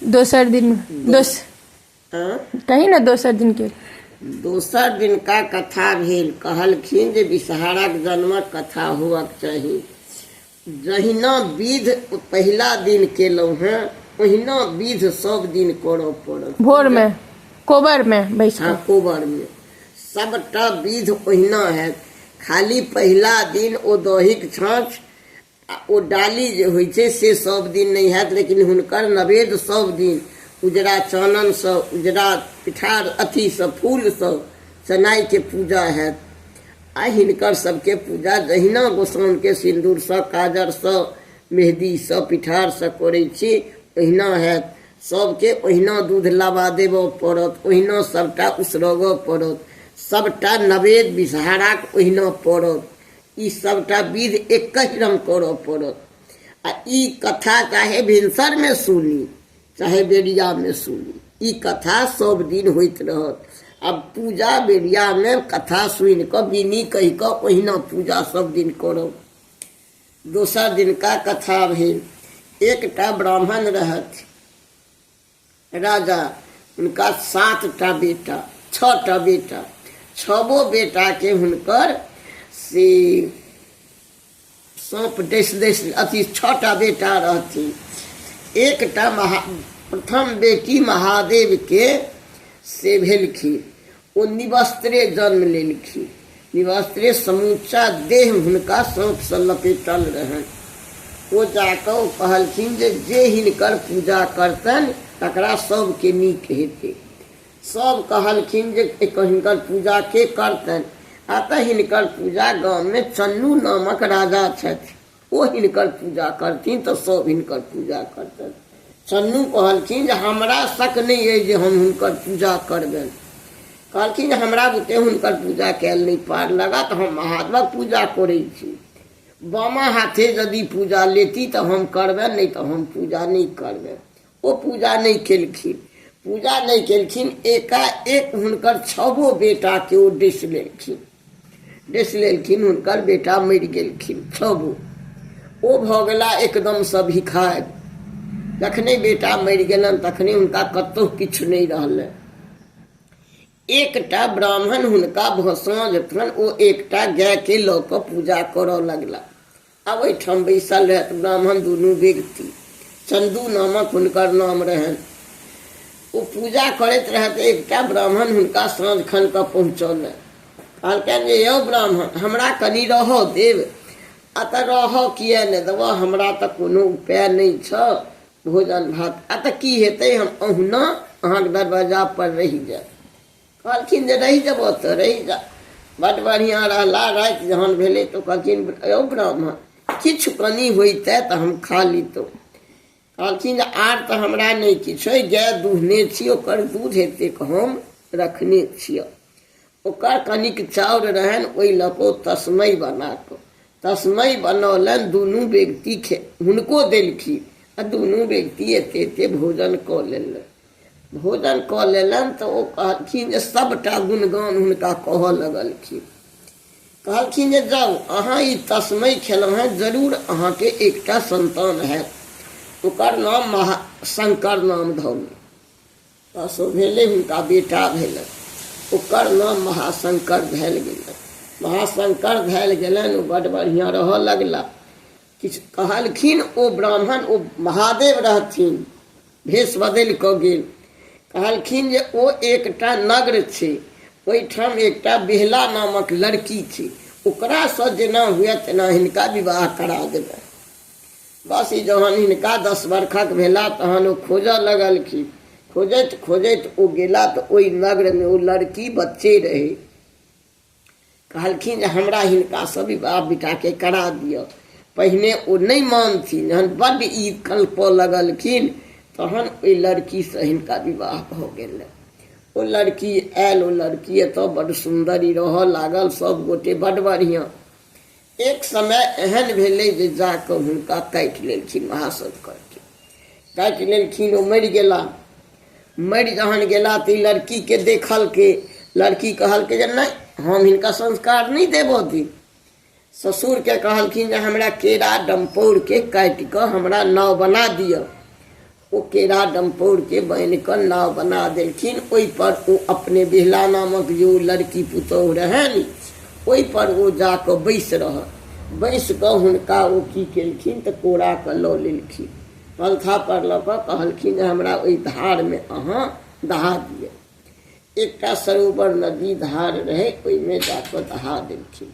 दोसर दिन दोस हँ कही ने दोसर दिन के दोसर दिनका कथा भेल कहलखिन जे विषहाराक जन्मक कथा होअक चाही जहिना विध पहिला दिन केलहुँ हेँ ओहिना विध सभ दिन करय पड़त भोर में कोबर में बैस हँ कऽ कोबरमे सभटा विध ओहिना हैत खाली पहिला दिन ओ दहीक छाँछ आ ओ डाली जे होइ छै से सब दिन नहि हैत लेकिन हुनकर नवेद सब दिन उजरा चाननसँ उजरा पिठार अथीसँ फूलसँ चनाइके पूजा हैत आ हिनकर सबके पूजा जहिना गोसाउनके सिन्दूरसँ काजरसँ मेहदीसँ पिठारसँ करै छी ओहिना हैत सबके ओहिना दूध लाबा देबऽ पड़त ओहिना सबटा उसरगऽ पड़त सबटा नवेद विषहाराक ओहिना पड़त ई सभटा विध एकहि रंग करऽ पड़त आ ई कथा चाहे भिनसरमे सुनी चाहे बेरियामे सुनी ई कथा सब दिन होइत रहत आ पूजा बेरियामे कथा सुनि कऽ बिनी कहि कऽ ओहिना पूजा सब दिन करब दोसर दिनका कथा भेल एकटा ब्राह्मण रहथि राजा हुनका सात टा बेटा छओ टा बेटा छबो बेटाके हुनकर से साँप डस डस अथी छओ टा बेटा रहथिन एकटा महा प्रथम बेटी महादेवके से भेलखिन ओ निवस्त्रे जन्म लेलखिन। निवस्त्रे समूचा देह हुनका साँपसँ लपेटल रहनि। ओ जा कऽ ओ कहलखिन जे जे हिनकर पूजा करतनि तकरा सभकेँ नीक हेतै। सभ कहलखिन जे एकर हिनकर पूजा के करतनि? अतः हिनकर पूजा गाममे चन्नू नामक राजा छथि। ओ हिनकर पूजा करथिन तऽ सभ हिनकर पूजा करतनि चन्नू कहलखिन जे हमरा शक नहि अइ जे हम हुनकर पूजा करबनि कहलखिन जे हमरा बुते हुनकर पूजा कयल नहि पार लगत हम महादेवक पूजा करै छी बामा हाथे यदि पूजा लेती तऽ हम करबनि नहि तऽ हम पूजा नहि करबनि ओ पूजा नहि केलखिन पूजा नहि केलखिन एकाएक हुनकर छबो बेटाके ओ डसि लेलखिन डसि लेलखिन हुनकर बेटा मरि गेलखिन छबो ओ भऽ गेला एकदमसँ भिखारि जखने बेटा मरि गेलनि तखने हुनका कतहु किछु नहि रहलै एकटा ब्राह्मण हुनका साँझ खन ओ एकटा गायके लऽ कऽ पूजा करय लगला आब एहिठाम बैसल रहथि ब्राह्मण दुनू व्यक्ति चन्दू नामक हुनकर नाम रहनि ओ पूजा करैत रहथि एकटा ब्राह्मण हुनका साँझ खन कऽ पहुँचौलनि कहलकनि जे यौ ब्राह्मण हमरा कनि रहऽ देव आ तऽ रहऽ किए नहि देबऽ हमरा तऽ कोनो उपाय नहि छऽ भोजन भात आ तऽ की हेतै हम अहुना अहाँके दरवाजापर रहि जायब कहलखिन जे रहि जेबह तऽ रहि जा बड्ड बढ़िआँ रहला राति जहन भेलै तऽ कहलखिन यौ ब्राह्मण किछु कनी होइतै तऽ हम खा लितहुँ कहलखिन जे आर तऽ हमरा नहि किछु अइ गाय दुहने छी ओकर दूध एतेक हम रखने छियै ओकर कनिक चाउर रहनि ओहि लऽ कऽ तस्मै बना कऽ तस्मै बनौलनि दुनू व्यक्ति खे हुनको देलखिन आ दुनू व्यक्ति एते एते भोजन कऽ लेलनि भोजन कऽ लेलनि तऽ ओ कहलखिन जे सभटा गुणगान हुनका कहऽ लगलखिन कहलखिन जे जाउ अहाँ ई तस्मै खेलहुँ हेँ जरूर अहाँके एकटा सन्तान हैत ओकर नाम महा शंकर नाम धरू तसो भेलै हुनका बेटा भेलनि ओकर नाम महाशंकर धयल गेलनि महाशंकर धयल गेलनि ओ बड्ड बढ़िआँ रहऽ लगला किछु कहलखिन ओ ब्राह्मण ओ महादेव रहथिन भेष बदलि कऽ गेल कहलखिन जे ओ एकटा नगर छै ओहिठाम एकटा बिहला नामक लड़की छै ओकरासँ जेना हुए तेना हिनका विवाह करा देबै बस ई जहन हिनका दस बरखक भेला तहन ओ खोजऽ लगलखिन खोजैत खोजैत ओ गेला तऽ ओहि नगरमे ओ लड़की बच्चे रहै कहलखिन जे हमरा हिनकासँ विवाह बेटाके करा दिअ पहिने ओ नहि मानथिन जहन बड्ड ई कल्पऽ लगलखिन तहन ओहि लड़कीसँ हिनका विवाह भऽ गेलै ओ लड़की आयल ओ लड़की एतऽ बड्ड सुन्दरी रहऽ लागल सभगोटे बड्ड बढ़िआँ एक समय एहन भेलै जे जाकऽ हुनका काटि लेलखिन महासत करके काटि लेलखिन ओ मरि गेला मरि जहन गेला तऽ ई लड़कीके देखलकै लड़की कहलकै जे नहि हम हिनका संस्कार नहि देबऽ दी ससुरके कहलखिन जे हमरा केरा डम्पौरके काटि कऽ हमरा नाव बना दिअ ओ केरा डम्पौरके बान्हि कऽ नाव बना देलखिन ओहिपर ओ अपने बिहला नामक जे ओ लड़की पुतोहु रहनि ओहिपर ओ जा कऽ बैसि रहल बैसि कऽ हुनका ओ की केलखिन तऽ कोरा कऽ लऽ लेलखिन पलथापर लऽ कऽ कहलखिन जे हमरा ओहि धारमे अहाँ दहा दिअ एकटा सरोवर नदी धार रहै ओहिमे जा कऽ दहा देलखिन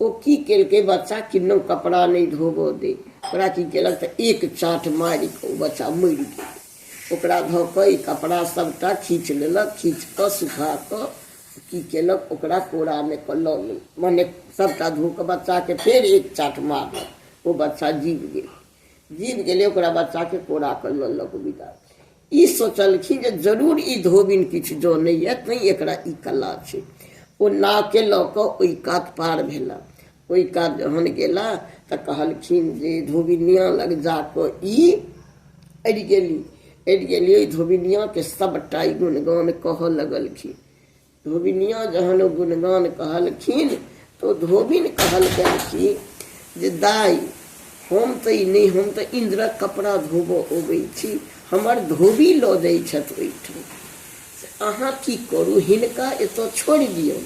ओ की केलकै बच्चा किन्नो कपड़ा नहि धोबऽ दे ओकरा की केलक तऽ एक चाट मारि कऽ ओ बच्चा मरि गेल ओकरा धऽ कऽ ई कपड़ा सभटा खींच लेलक खींच कऽ सुखा कऽ की केलक ओकरा कोरामे कऽ लऽ गेल मने सभटा धो कऽ बच्चाके फेर एक चाट मारलक ओ बच्चा जीव गेल जीव गेलै ओकरा बच्चाके कोरा कऽ लऽ लऽ कऽ विदा ई सोचलखिन जे जरूर ई धोबिन किछु जनैए तैँ एकरा ई कला छै ओ नावके लऽ कऽ ओहि कात पार भेला ओहि कात जहन गेला तऽ कहलखिन जे धोबिनिया लग जा कऽ ई अड़ि गेली अड़ि गेली ओहि धोबिनियाके सभटा ई गुणगान कहऽ लगलखिन धोबिनिया जहन ओ गुणगान कहलखिन तऽ ओ धोबिन कहलकनि कि जे दाइ हम तऽ ई नहि हम तऽ इन्द्रक कपड़ा धोबऽ अबै छी हमर धोबी लऽ जाइ छथि ओहिठाम से अहाँ की करू हिनका एतऽ छोड़ि दियौ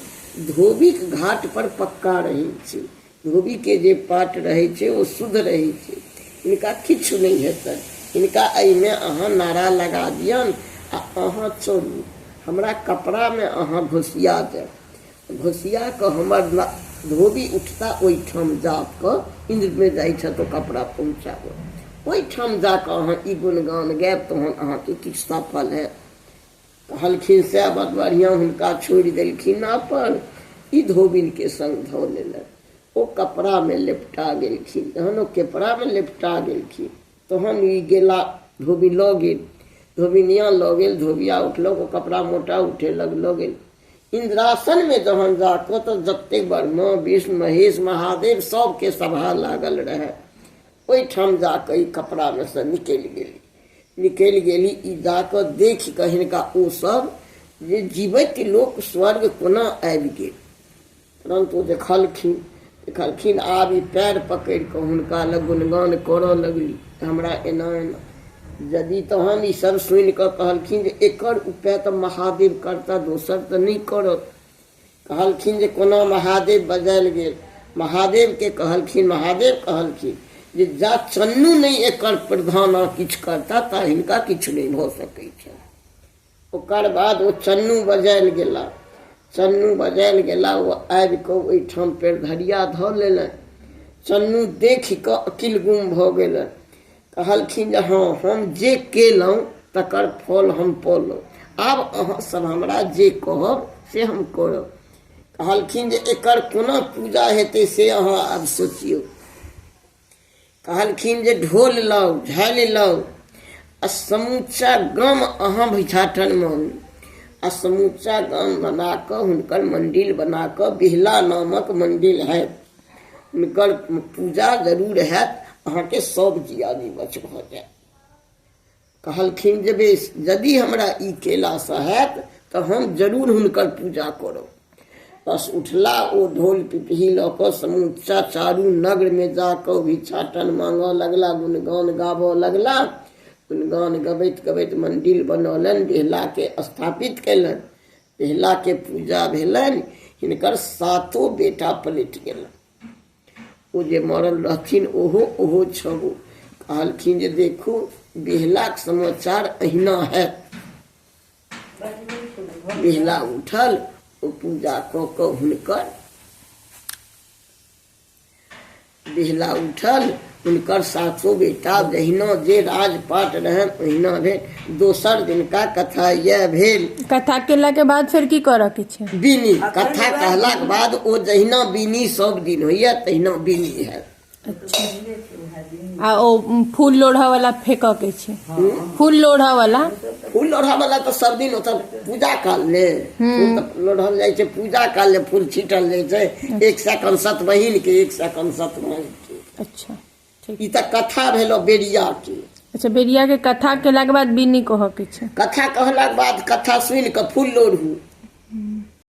धोबीक घाट पर पक्का रहै छी धोबी के जे पाट रहे छे ओ शुद्ध रहे छे इनका किछ नहीं हेतन इनका अई में अहा नारा लगा दियन आ अहा चलू हमरा कपड़ा में अहा घोसिया दे घोसिया के हमर धोबी उठता ओई ठाम जा क इंद्र में जाई छ तो कपड़ा पहुंचाबो ओई ठाम जा क अहा ई गुणगान गायब तहन अहा के किछ सफल है कहलखिन सएह बड़ बढ़िआँ हुनका छोड़ि देलखिन अपन ई धोबिनके सङ्ग धऽ लेलनि ओ कपड़ामे लेपटा गेलखिन जहन ओ कपड़ामे लेपटा गेलखिन तहन ई गेला धोबी लऽ गेल धोबिनिया लऽ गेल धोबिया उठलक ओ कपड़ा मोटा उठेलक लऽ गेल इन्द्रासनमे जहन जाकऽ तऽ जतेक ब्रह्मा विष्णु महेश महादेव सभके सभा लागल रहए ओहिठाम जाकऽ ई कपड़ामे सँ निकलि गेली निकलि गेली ई गा कऽ देखि कऽ हिनका ओ सब जे जीवैत लोक स्वर्ग कोना आबि गेल परन्तु देखलखिन देखलखिन आब ई पैर पकड़ि कऽ हुनका लग गुणगान करऽ लगली हमरा एना एना यदि तहन ई सब सुनि कऽ कहलखिन जे एकर उपाय तऽ महादेव करता दोसर तऽ नहि करत कहलखिन जे कोना महादेव बजायल गेल महादेवके कहलखिन महादेव कहलखिन जे जा चन्नू नहि एकर प्रधान किछु करता ता हिनका किछु नहि भऽ सकै छनि ओकर बाद ओ चन्नू बजायल गेला चन्नू बजायल गेला ओ आबि कऽ ओहिठाम पेड़ धरिया धऽ लेलनि चन्नू देखि कऽ अकिल गुम भऽ गेलनि कहलखिन जे हँ हम जे केलहुँ तकर फल हम पौलहुँ आब अहाँसभ हमरा जे कहब से हम करब कहलखिन जे एकर कोना पूजा हेतै से अहाँ आब सोचियौ कहलखिन जे ढोल लाउ झालि लाउ आ समूचा गाम अहाँ भिछाटनमे आउ आ समूचा गाम बना कऽ हुनकर मन्दिर बना कऽ बिहला नामक मन्दिर हएत हुनकर पूजा जरूर हैत अहाँके सब जिया निवच भऽ जायत कहलखिन जे बेस यदि हमरा ई केलासँ हैत तऽ हम जरूर हुनकर पूजा करब बस उठला ओ ढोल पिपही लऽ कऽ समूचा चारू नगरमे जा कऽ भिक्षाटन मांगऽ लगला गुणगान गाबऽ लगला गुणगान गबैत गबैत मंदिर बनौलनि बिहलाके स्थापित कयलनि पहिला के पूजा भेलनि हिनकर सातो बेटा पलटि गेल ओ जे मरल रहथिन ओहो ओहो छबो कहलखिन जे देखू बिहलाक समाचार अहिना है बिहला उठल ओ पूजा कऽ कऽ हुनकर बिहला उठल हुनकर सातो बेटा जहिना जे राजपाट रहन ओहिना भेल दोसर दिनका कथा यह भेल कथा केला के बाद फिर की करऽ के छै बीनी कथा कहलाक बाद ओ जहिना बीनी सब दिन होइए तहिना बीनी है आ ओ फूल लोढ़ऽ वाला फेकऽ के छै फूल लोढ़ऽ वाला फूल लोढ़ऽ वाला तऽ सब दिन ओतऽ पूजा काल ले फूल तऽ लोढ़ल जाइ छै पूजा काल ले फूल छीटल जाइ छै एक सेकंड सत बहिन के एक सेकंड सत माय के अच्छा ठीक ई तऽ कथा भेलो बेरिया के अच्छा बेरिया के कथा केला के बाद बीनी कहऽ के छै कथा कहलाक बाद कथा सुनि कऽ फूल लोढ़ू